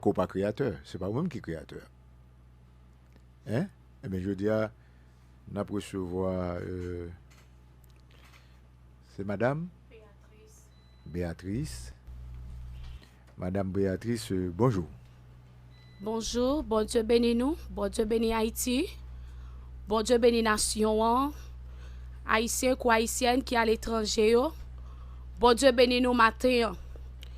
Ke w pa kreyatè, se pa ou menm ki kreyatè a. Hein? Ebyen jodi a nap resevwa euh se madam? Beatrice. Beatrice. Madam Beatrice bonjou. Bonjou, Bondye beni nou, Bondye beni Ayiti, Bondye beni nasyon an, Ayisyen kou Ayisyèn ki aletranje yo, Bondye beni nou maten an.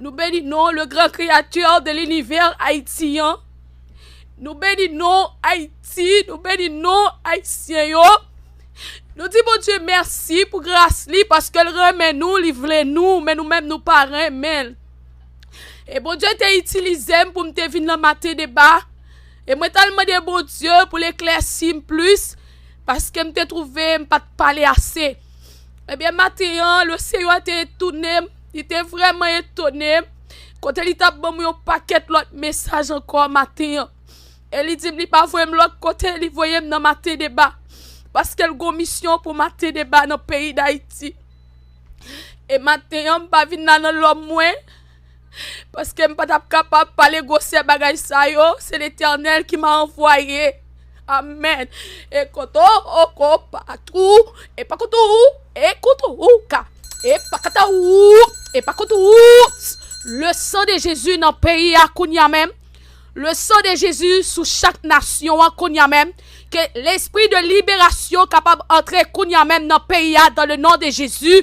Nou beni non le gran createur de l'univers Haïti an. Nou beni non Haïti, nou beni non Haïtien yo. Nou di bon Dieu merci pou gras li paske l renmen nou, li vle nou, men nou menm nou pa renmen l. E bon Dieu te itilize m pou m te vin nan maten deba. E mwen tal mande bon Dieu pou l eklèsi m plis paske m te trouve m pat pale ase. Ebyen maten an, le Seyè te etoune m, li te vrèman etone m, kote li t ap ban mwen yon pakèt lòt mesaj ankò maten an. E li di m li pa voye m lòt kote, li voye m nan Maten Deba, paske l gen yon misyon pou Maten Deba nan peyi Dayiti. E maten an, m pa vin la nan lòm mwen. Paske m pa tap kapab pale gwosè bagay sa yo, se Letènèl ki m a anvwaye. Amèn. E kont o o ko pa tou, e pa kont ou, e kont ou ka, e pa kata ou, e pa kont ou. Le san de Jezi nan peyi a kounye a menm. Le san de Jezi sou chak nasyon an kounye a menm. Ke lespri de liberasyon kapab antre kounye a menm nan peyi a dan le non de Jezi.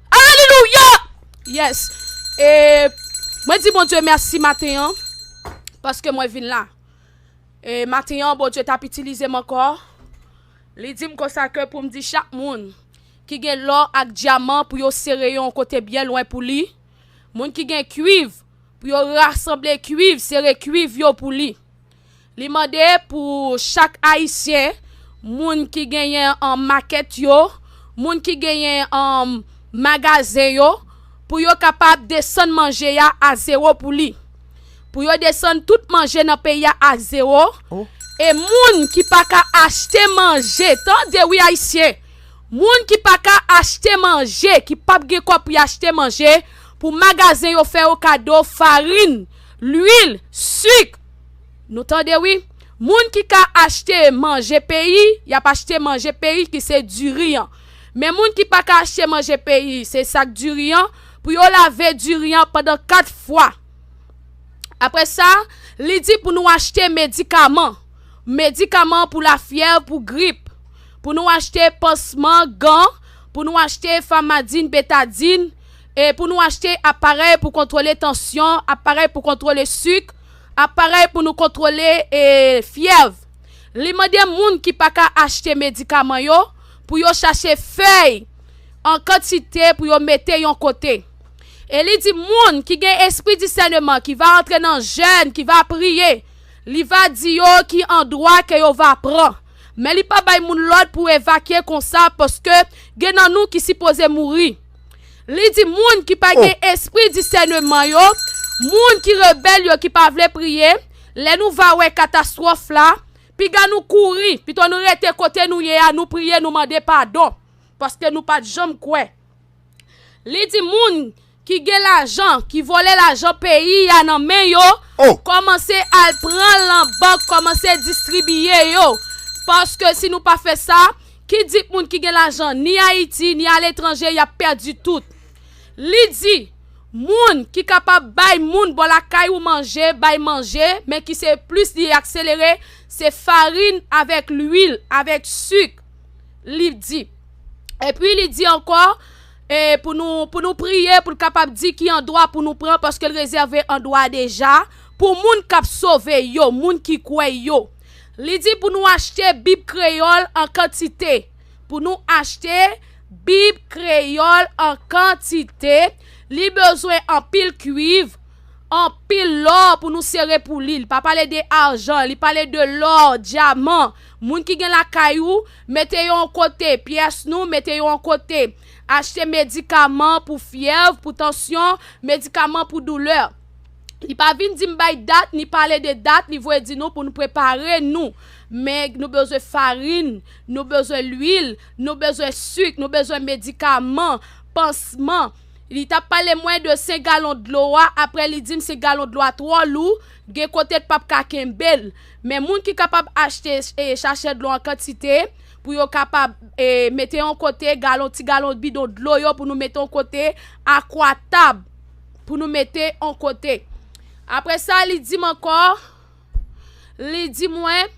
Alelouya! Yes! E mwen di Bondye mèsi maten an, paske mwen vin la. E maten an Bondye t ap itilize m ankò, li di m konsa ke pou m di chak moun ki gen lò ak dyaman pou yo sere yo yon kote byen lwen pou li, moun ki gen kuiv pou yo rasanble kuiv, sere kuiv yo pou li. Li mande pou chak Ayisyen, moun ki genyen makèt yo, moun ki genyen magazen yo, pou yo kapab desann manje a a zewo pou li. Pou yo desann tout manje nan peyi a a zewo. E moun ki pa ka achte manje, tande wi Ayisyen, moun ki pa ka achte manje, ki pa p gen kòb pou y achte manje, pou magazen yo fè yo kado farin, luil, sik. Nou tande wi. Moun ki ka achte manje peyi, y ap achte manje peyi ki se diri an. Men moun ki pa ka achte manje peyi, se sak diri an, pou yo lave diri an pandan 4 fwa. Apre sa, li di pou nou achte medikaman. Medikaman pou lafyèv, pou grip. Pou nou achte pansman, gan, pou nou achte famadin, betadin, e pou nou achte aparèy pou kontwole tansyon, aparèy pou kontwole sik, Aparèy pou nou kontwole fyèv. Li mande moun ki pa ka achte medikaman yo pou yo chache fèy an kantite pou yo mete yon kote. E li di moun ki gen espri disèneman ki va antre nan jèn, ki va priye, li va di yo ki andwa ke yo va pran. Men li pa bay moun lòd pou evakye konsa paske gen nan nou ki sipoze mouri. Li di moun ki pa gen espri disèneman yo, moun ki rebèl yo ki pa vle priye, lè nou va wè katastwòf la, piga nou kouri, pito nou rete kote nou ye a, nou priye, nou mande padon, paske nou pa t janm kwè. Li di moun ki gen lajan, ki vòlè lajan peyi a nan men yo, kòmanse al pran l nan bank, kòmanse distribiye yo, paske si nou pa fè sa, Ki di k moun ki gen lajan ni Ayiti ni aletranje y ap pèdi tout. Li di, Moun ki kapab bay moun bò lakay ou manje bay manje men ki se plis li akselere se farin avèk luil avèk sik, li di. Epi li di ankò e pou nou pou nou priye pou l kapab di ki andwa pou nou pran paske l rezève andwa deja pou moun k ap sove yo, moun ki kwè yo. Li di pou nou achte Bib Kreyòl an kantite. Pou nou achte Bib Kreyòl an kantite, li bezwen anpil kuiv, anpil lò pou nou sere pou li. Li pa pale de ajan, li pale de lò, dyaman. Moun ki gen lakay ou, mete yo an kote. Pyès nou, mete yo an kote. Achte medikaman pou fyèv, pou tansyon, medikaman pou doulè. Li pa vin di m bay dat, ni pale de dat, li voye di nou pou nou prepare nou. Men, nou bezwen farin, nou bezwen lwil, nou bezwen suk, nou bezwen medikaman, pansman. Li tap pale mwen de 5 galon dlo a, apre li di m 5 galon dlo a twò lou, gen kote l pap ka kenbe l. Men moun ki kapab achte chachè dlo an kantite, pou yo kapab mete yon kote, galon, ti galon bidon dlo yo pou nou mete yon kote, akwa tab. pou nou mete on kote. Apre sa, li di m ankò, li di mwen,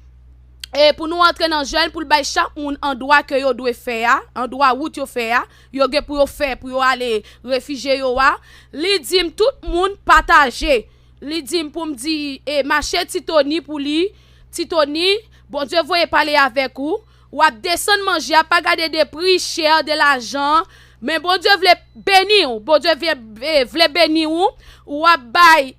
e pou nou antre nan jèn pou l bay chak moun andwa ke yo dwe fè a, andwa wout yo fè a, yo gen pou yo fè pou yo ale refije yo a, li di m tout moun pataje, li di m pou m di e mache Ti Toni pou li, Ti Toni, Bondye voye pale avèk ou, Wap desann manje a pa gade de pri cher de lajan an men Bondye vle beniw Bondye vle beniw ou wap bay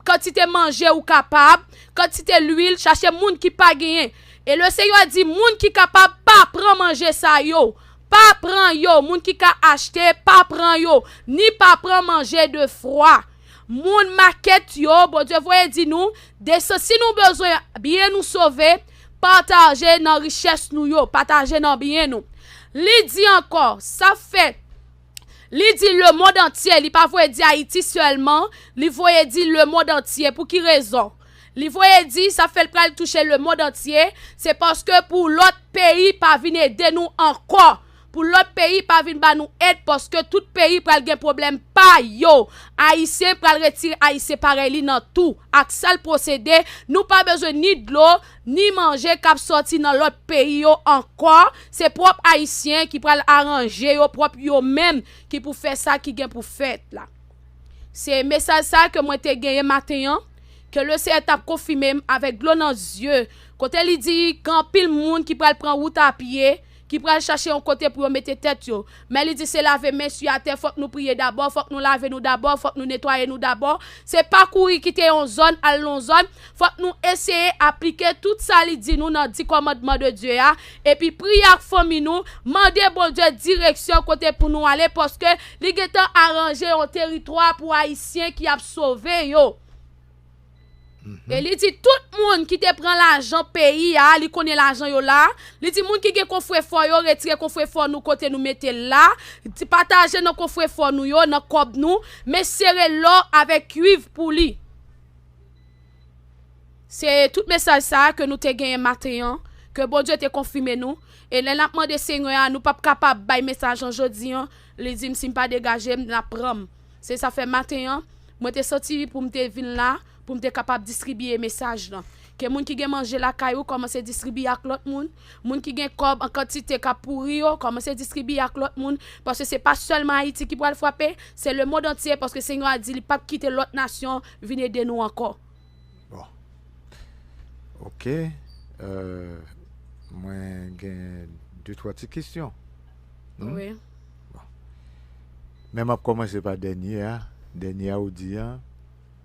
kantite manje ou kapab kantite lwil chache moun ki pa genyen e le Senyè di moun ki kapab pa pran manje sa yo pa pran yo moun ki ka achte pa pran yo ni pa pran manje de fwa moun makèt yo Bondye voye di nou desann si nou bezwen byen nou sove Pataje nan richès nou yo, pataje nan byen nou. Li di ankò, sa fè Li di lemond antye, li pa voye di Ayiti sèlman, li voye di lemond antye. Pou ki rezon? Li voye di sa fè l pral touche lemond antye, se paske pou lòt peyi pa vin ede nou ankò. Pou lòt peyi pa vin ba nou èd paske tout peyi pral gen pwoblèm pa yo. Ayisyen pral retire Ayisyen parèy li nan tou ak sal pwosede, nou pa bezwen ni dlo, ni manje kap sòti nan lòt peyi yo ankò, se pwòp Ayisyen ki pral aranje yo pwòp yo menm ki pou fè sa ki gen pou fèt la. Se mesaj sa ke mwen te genyen maten an, ke Le Seyè tap konfime m avèk dlo nan zye, kote li di gen anpil moun ki pral pran wout a pye, ki pral chache yon kote pou yo mete tèt yo, men li di se lave men su atè fòk nou priye dabò, fòk nou lave nou dabò, fòk nou netwaye nou dabò, se pa kouri kite yon zòn al lon zòn, fòk nou eseye aplike tout sa li di nou nan di kòmandman de Dye a, epi priye ak fanmi nou, mande Bondye direksyon kote pou nou ale paske li gentan aranje yon teritwa pou ayisyen ki ap sove yo. E li di tout moun ki te pran lajan peyi a, li konnen lajan yo la, li di moun ki gen kofrefò yo retire kofrefò nou kote nou mete l la, di pataje nan kofrefò nou yo, nan kòb nou, men sere lò avèk kuiv pou li. Se tout mesaj sa a ke nou te genyen maten an, ke Bondye te konfime nou, e lè n ap mande Senyè a nou p ap kapab bay mesaj lan jodi an, li di m si m pa degaje m, l ap pran m. Se sa fè maten an, mwen te soti pou m te vin la pou m te kapab distribiye mesaj lan. Ke moun ki gen manje lakay ou kòmanse distribiye ak lòt moun. Moun ki gen kòb an kantite k ap pouri yo, kòmanse distribiye ak lòt moun. Paske se pa sèlman Ayiti ki pral frape, se lemond antye paske Senyè a di li p ap kite lòt nasyon vin ede nou ankò. Bon. Ok. Mwen gen de twa ti kesyon. Wi. Bon. Men m ap kòmanse pa dènye a. Dènye a ou di a.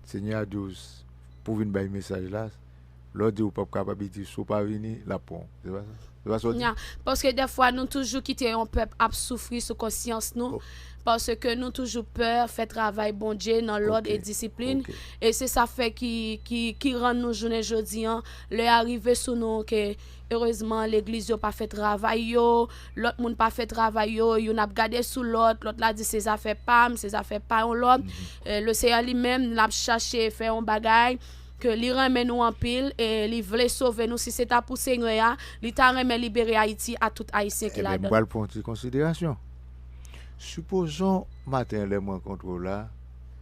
Senyè a di w pou w vin bay mesaj la. Lè w di w pa p kapab, li di w si w pa vini, l ap pran w. Se pa sa? Nya, paske dèfwa nou toujou kite yon pèp ap soufri sou konsyans nou, paske nou toujou pè fè travay Bondye nan lòd e disiplin, e se sa fè ki rann nou jounen jodi an, lè a rive sou nou ke erezman legliz yo pa fè travay yo, lòt moun pa fè travay yo, youn ap gade sou lòt, lòt la di se zafè pa m, se zafè pa yon lòt, Leseyè li menm l ap chache fè yon bagay. ke li renmen nou anpil e li vle sove nou si se ta pou Senyè a, li ta renmen libere Ayiti a tout Ayisyen ki Enben, m ladann. pral pran yon ti konsiderasyon. Sipozon maten lè m rankontre w la,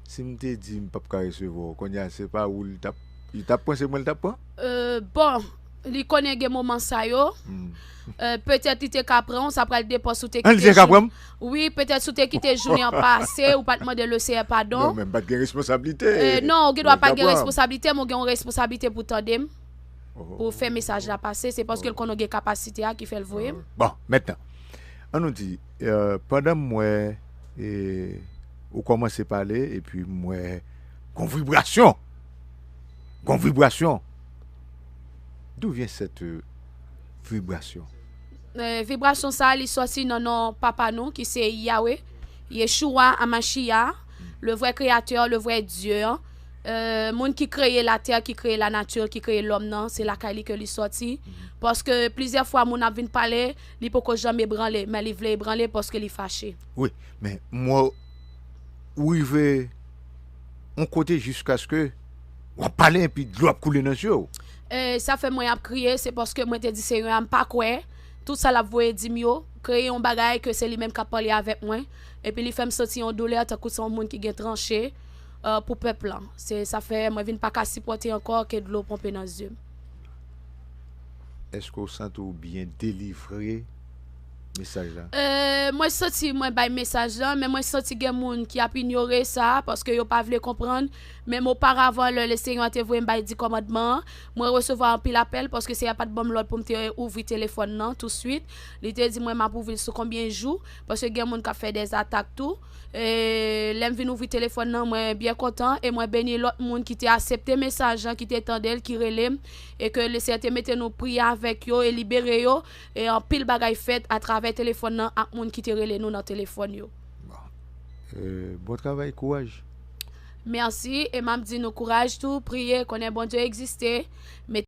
si m te di m p ap ka resevwa w, kounye a se pa ou li t ap, li t ap pran se mwen li t ap pran? Bon! Li konnen gen moman sa yo. Petèt li te ka pran w, sa pral depan si w te kite jounen. Li te ka pran m? Wi, petèt si w te kite jounen an pase, ou pa t mande Leseyè padon. Non, men m pa t gen responsablite. Non, ou gen dwa pa t gen responsablite, men ou gen yon responsablite pou w tande m, pou w fè mesaj la pase. Se paske l konnen ou gen kapasite a ki fè l voye m. Bon, mètnan, an nou di, pandan m wè ou kòmanse pale epi m wè gon vibrasyon, gon vibrasyon. D'où vient cette vibration? Vibration sa li sòti nan non Papa nou ki se Yahweh, Yeshua Hamashiah, le vrai créateur, le vrai Dieu an, moun ki kreye la terre, ki kreye la nature, ki kreye l'homme nan, se lakay li ke li sòti, paske plizyè fwa moun ap vin pale, li poko janm ebranle, men li vle ebranle paske li fache. Wi, men mwen rive on kote jiskaske wap pale epi dlo ap koule nan zye w. Eey sa fè mwen ap kriye se paske mwen te di senyè a m pa kwè tout sa lap voye dim yo kreye yon bagay ke se li menm kap pale avèk mwen epi li fèm santi yon doulè tankou se yon moun ki gen tranche pou pèp lan se sa fè mwen vin paka sipòte ankò ke dlo ponpe nan zyem. Eske w santi w byen delivre mesaj la? Euh mwen santi mwen bay mesaj lan men mwen santi gen moun ki ap inyore sa paske yo pa vle konprann menm oparavan lè Lesenyè te voye m bay di kòmandman an mwen resevwa anpil apèl paske Senyè pat banm lòd pou m te ouvri telefòn nan touswit li te di mwen map ouvri l sou konbyen jou paske gen moun kap fè dè atak tou eee lèm vin ouvri telefòn nan mwen byen kontan e mwen beni lòt moun ki te asepte mesaj lan ki te tande l ki rele m e ke Lesenyè te mete nou priye avèk yo e libere yo E anpil bagay fèt a travè telefòn nan ak moun ki te rele nou nan telefòn yo. Bon travay kouraj. Merci e map di nou kouraj tou priye konnen Bondye egziste mete.